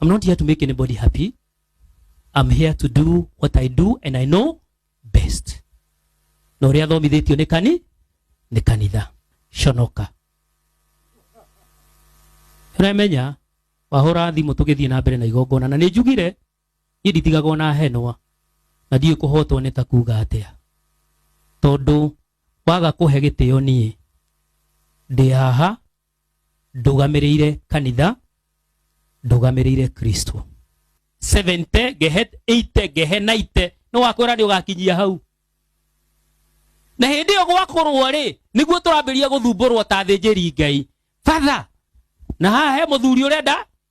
I'm not here to make anybody happy. I'm here to do what I do and I know best. Na ũrĩa thomithĩtio nĩ kani nĩ kanitha conoka ũramenya wahũra thimũ tũgĩthiĩ na mbere na igongona na nĩ njugire niĩ nditigagwo na henwa na ndiũĩ kũhotwo nĩ ta kuga atĩa tondũ waga kũhe gĩtĩo niĩ ndĩ haha ndũgamĩrĩire kanitha ndũgamĩrĩire kristo 70 gehe 80 gehe 90 nĩ wakwĩra nĩ ũgakinyia hau na hĩndĩ ĩyo gwakorwo rĩ nĩguo tũrambĩrĩria gũthumbũrwo ta thĩnjĩri ngai fatha na haha he mũthuri ũrenda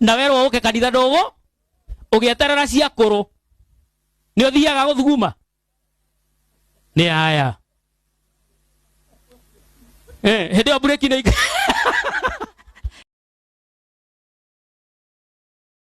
na werwo ũke kanitha ndũgũ ũgĩeterera ciakũrũ nĩ ũthiaga gũthuguma nĩ aya Eh, hĩndĩ ĩyo mburĩki nĩ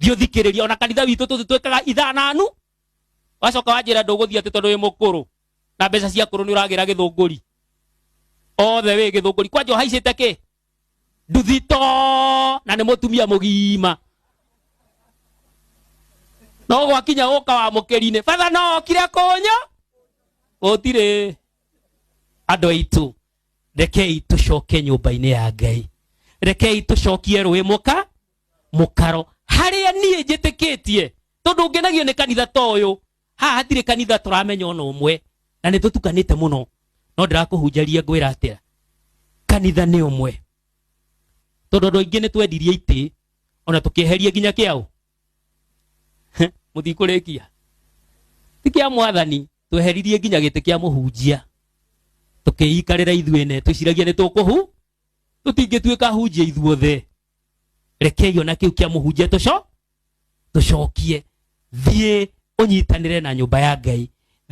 thiũthikĩrĩria ona kanitha witũ tũtũ twĩkaga ithaa nanu wacoka wanjĩra ndũgũthiĩ atĩ tondũ wĩ mũkũrũ na mbeca cia kũrũ nĩ ũragĩra gĩthũngũri othe wĩ gĩthũngũri kwanja ũhaicĩte kĩ nduthi to na nĩ mũtumia mũgima no gwakinya ũka wa mũkĩri-inĩ batha no okire kũnyũ gũtirĩ andũ aitũ rekei tũcoke nyũmba-inĩ ya ngai rekei tũcokie rũĩ mũka mũkaro harĩa niĩ njĩtĩkĩtie tondũ ngenagio nĩ kanitha ta ũyũ haha hatirĩ kanitha tũramenya ona ũmwe na nĩ tũtukanĩte mũno no ndĩrakũhunjaria ngwĩra atĩa kanitha nĩ ũmwe tondũ andũ aingĩ nĩ twendirie itĩ ona tũkĩeheria nginya kĩaũ mũtikũrĩkia ti kĩa mwathani tweheririe nginya gĩtĩ kĩa mũhunjia tũkĩikarĩra ithuĩ ene twĩciragia nĩ tũkũhu tũtingĩtuĩka hunjia ithuothe rekei ona kĩu kĩa mũhunjia tũco tũcokie thiĩ ũnyitanĩre na nyũmba ya ngai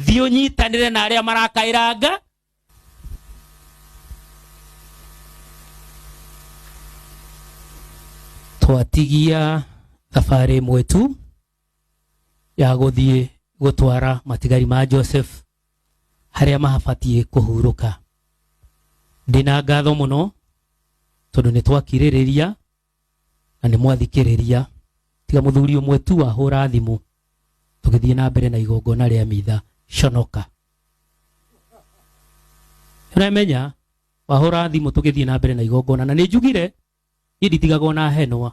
thiĩ ũnyitanĩre na arĩa marakaĩranga twatigia thabarĩ ĩmwe tu ya gũthiĩ gũtwara matigari ma Joseph harĩa mahabatiĩ kũhurũka. Ndĩna ngatho mũno tondũ nĩ twakirĩrĩria na nĩ mwathikĩrĩria tiga mũthuri ũmwe tu wahũra thimũ tũgĩthiĩ na mbere na igongona rĩa mitha conoka ũramenya wahũra thimũ tũgĩthiĩ na mbere na igongona na nĩ njugire niĩ nditigagwo na henwa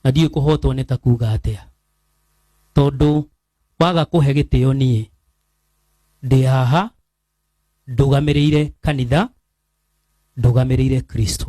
na ndiũĩ kũhotwo nĩ ta kuga atĩa tondũ waga kũhe gĩtĩo niĩ ndĩ haha ndũgamĩrĩire kanitha ndũgamĩrĩire kristo